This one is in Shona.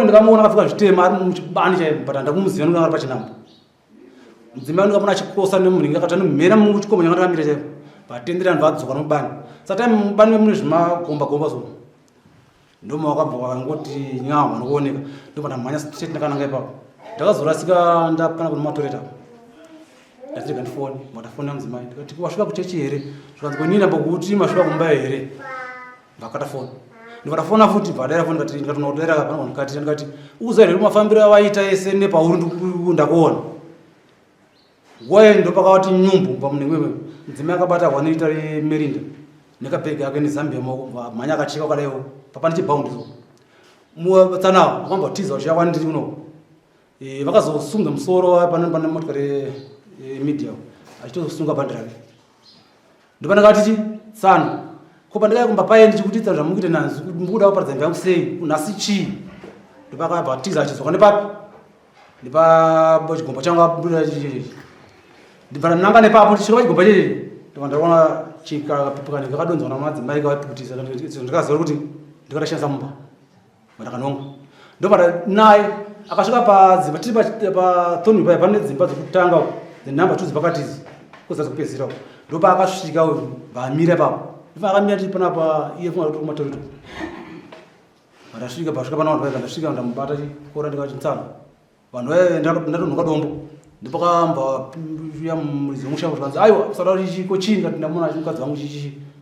ndakamuona akapfeka zvitema ari muchibani chaipo but handakumuziva nekuti ari pachinambo mudzimai ndakamuona achikrosa nemunhingi akati anomhera mungu chikomo changa takamira chaipo vatendera vanhu vadzoka nomubani satime mubani vemune zvimagomba gomba so ndoma wakabva wakangoti nyama vanokuoneka ndobva ndamhanya straight ndakananga ipapo ndakazorasika ndapana kune matoreta ndati rega ndifone matafone amudzimai ndikati wasvika kuchechi here zvikanzi kwenini ambokuti masvika kumba here ndakata foni ndikata fona futi padera foni ndikati ndikati unodera kana mukati ndikati uza here mafambiro awaita ese nepauri ndakuona waye ndopakawati nyumbu pamunenge wewe mudzimai akabata wanoita merinda nekabhegi ake nezambia maoko mhanya akacheka kadaio papa ndichibhaundi so mutsanawo akamba kutiza uchiya kwani ndiri kuno e, vakazosunga musoro pane pane motikari e, media achitosunga bhandi rake ndopana kati ti tsano ko pandikaya kumba paye ndichikutitsa zvamukuita nanzi kuti mukuda kuparadza mva yangu sei unhasi chii ndopakabva tiza achidzoka nepapi ndipa chigombo changu abuda ndibvana nanga nepapo ndisvika pachigombo chii ndobva ndaona chikapipikana kakadonzwa namadzimai kavapikutisa ndikaziva kuti ndikatoshandisa mumba Ndakanonga. Ndobata naye akasvika padzimba tiri pathoni paya pane dzimba dzekutanga uko nenhamba two dzepakati idzi kuzasi kupedzisira uko ndopa akasvika uyu vamira ipapo ifa akamira tiri panapa iye funga kuti kumatorito ndasvika pasvika pana vanhu vaiva ndasvika ndamubata chikora ndikati ntsano vanhu vaive ndatonhoka dombo ndipakambauya muridzi wemusha kuti kanzi aiwa kusada kuti chiko chii ndati ndamona mukadzi wangu chichichi